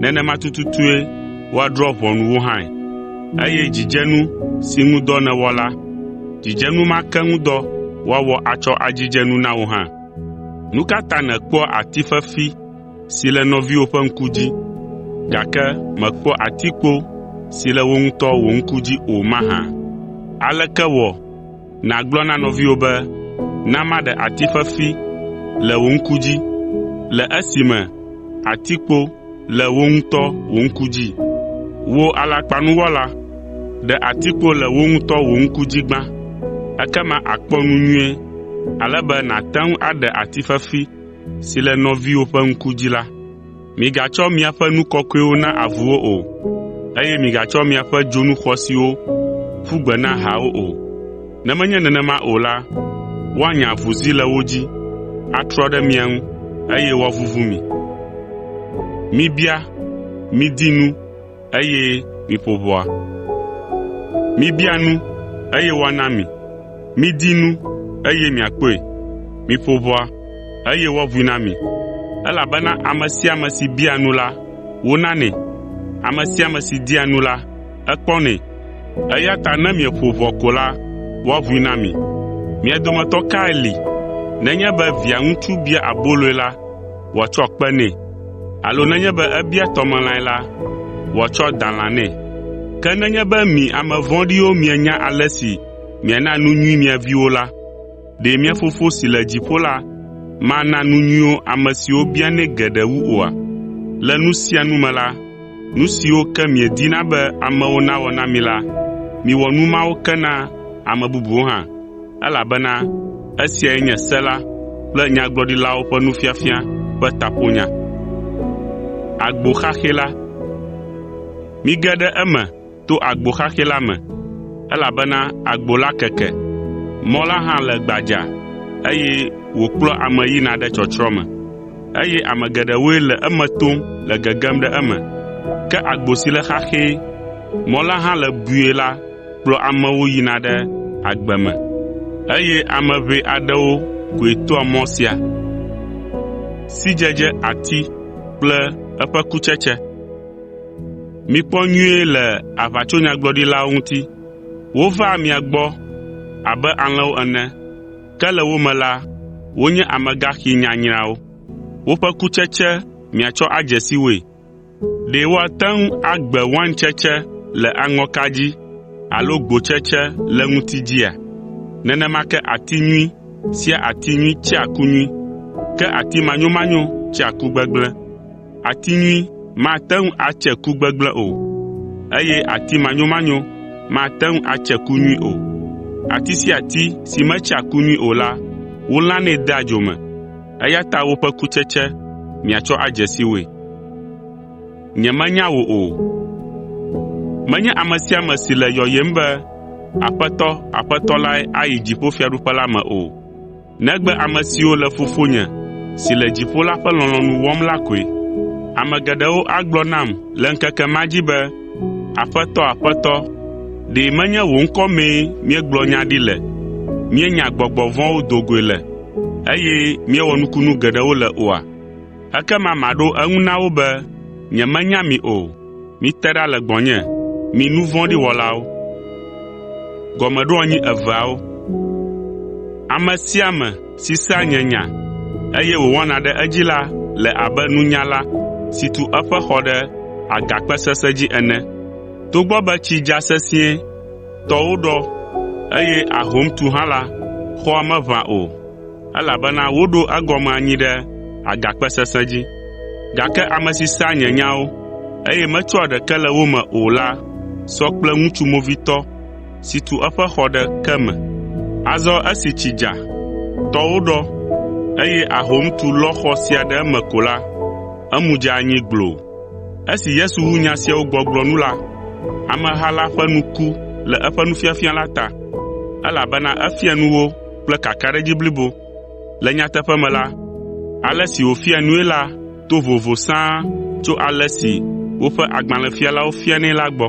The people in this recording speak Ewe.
nenema tututue woadrɔ̃ ʋɔnu wò hã. Eye dzidzenu si ŋu dɔ nèwɔ la, dzidzenu ma ke ŋu dɔ woawɔ atsɔ adzidze nu na wò hã. Nu ka ta nèkpɔa ati fefi si le nɔviwò ƒe ŋku dzi, gake mèkpɔa atikpo si le wò ŋutɔ wò ŋku dzi o mahã? Aleke wɔ nàgblɔ na nɔviwò be, “Na maɖe ati fefi le wò ŋku dzi,” le esime atikpo le wò ŋutɔ wò ŋku dzi? Wò alakpanuwɔla, ɖe atikpo le wò ŋutɔ wò ŋku dzi gbã, ekema àkpɔ nu nyuie ale be nàte ŋu aɖe ati fefi si le nɔviwò ƒe ŋku dzi la. “Migatsɔ miaƒe nu kɔkɔewo na avuwo o, eye migatsɔ miaƒe dzonu xɔasiwo ƒu gbe na haawo o, ne menye nenema o la, woanya avuzi le wo dzi, atrɔ ɖe mia ŋu, eye woavuvu mi. eye miƒo ʋɔa. Mibia nu, eye woana mi. Midi nu, eye miakpɔe. Miƒo ʋɔa, eye woaʋui na mi. Elabena ame sia ame si biaa nu la, wonanɛ, ame sia ame si dia nu la, ekpɔnɛ. Eya ta ne mieƒo ʋɔa ko la, woaʋui na mi. Mia dometɔ kae li, nenye be viaŋutsu bia aboloe la, wòatsɔ kpe nɛ, alo nenye be ebia tɔmelãe la, wòatsɔ dalã nɛ. Ke nenye be mi ame vɔ̃ɖiwo mienya ale si miana nu nyui mia viwo la, ɖe mia Fofo si le dziƒo la mana nu nyuiwo ame siwo bianɛ geɖe wu oa? Le nu sia nu me la, nu siwo ke miedina be amewo nawɔ na mi la, miwɔ nu mawo ke na ame bubuwo hã. elabena esiae nye se la kple nyagblɔɖilawo ƒe nufiafia ƒe taƒonya. “Mige ɖe eme to agbo xaxɛ la me, elabena agbo la keke, mɔ la hã le gbadza, eye wòkplɔa ame yina ɖe tsɔtsrɔ̃ me, eye ame geɖewoe le eme tom le gegem ɖe eme. Ke agbo si le xaxɛ, mɔ la hã le bui la kplɔ amewo yina ɖe agbe me, eye ame ʋɛ aɖewo koe toa mɔ sia. Sidzedze ati kple eƒe kutsetse Mikpɔ nyuie le aʋatsonyagblɔɖilawo ŋuti. Wovaa mia gbɔ abe alẽwo ene, ke le wo me la, wonye amegaxi nyanyrawo. Woƒe kutsetse miatsɔ adze si woe. Ɖe woate ŋu agbe waintsetse le aŋɔka dzi alo gbotsetse le ŋuti dzia? Nenema ke ati nyui sia ati nyui tsea ku nyui, ke ati manyomanyo tsea ku gbegblẽ. Ati nyui mate ŋu atse ku gbegblẽ o, eye ati manyomanyo mate ŋu atse ku nyui o. Ati sia ati si metsea ku nyui o la, wolãnɛ dea dzo me. eya ta woƒe kutsetse miatsɔ adze si woe. Nyemenya wò o. Menye ame sia ame si le yɔyem be, ‘Aƒetɔ, Aƒetɔ’ lae ayi dziƒofiaɖuƒe la me o, negbe ame siwo le Fofonye si le dziƒo la ƒe lɔlɔ̃nu wɔm la koe. Ame geɖewo agblɔ nam le ŋkeke ma dzi be, “Aƒetɔ, Aƒetɔ, ɖe menye wò ŋkɔ mee míegblɔ nya ɖi le, míenya gbɔgbɔ vɔ̃wo do goe le, eye míewɔ nukunu geɖewo le oa?” Ekema maɖo eŋu na wo be, “Nyemenya mi o. Mite ɖa le gbɔnye, mi nu vɔ̃ɖi wɔlawo!” si sea nye nya, eye wòwɔna ɖe edzi la le abe nunyala si tu eƒe xɔ ɖe agakpe sesẽ dzi ene. Togbɔ be tsi dza sesĩe, tɔwo ɖɔ, eye ahom tu hã la, xɔa meʋã o, elabena woɖo egɔme anyi ɖe agakpe sesẽ dzi. Gake ame si sea nye nyawo, eye metsɔa ɖeke le wo me o la sɔ kple ŋutsu movitɔ si tu eƒe xɔ ɖe ke me. Azɔ esi tsi dza, tɔwo ɖɔ, eye ahom tu lɔ xɔ sia ɖe eme ko la, emu dze anyi gbloo. Esi Yesu wu nya siawo gbɔgblɔ nu la, ameha la ƒe nu ku le eƒe nufiafia la ta, elabena efia nu wo kple kakaɖedzi blibo. Le nyateƒe me la, ale si wòfia nui la to vovo sãa tso ale si woƒe agbalẽfialawo fianɛ la gbɔ.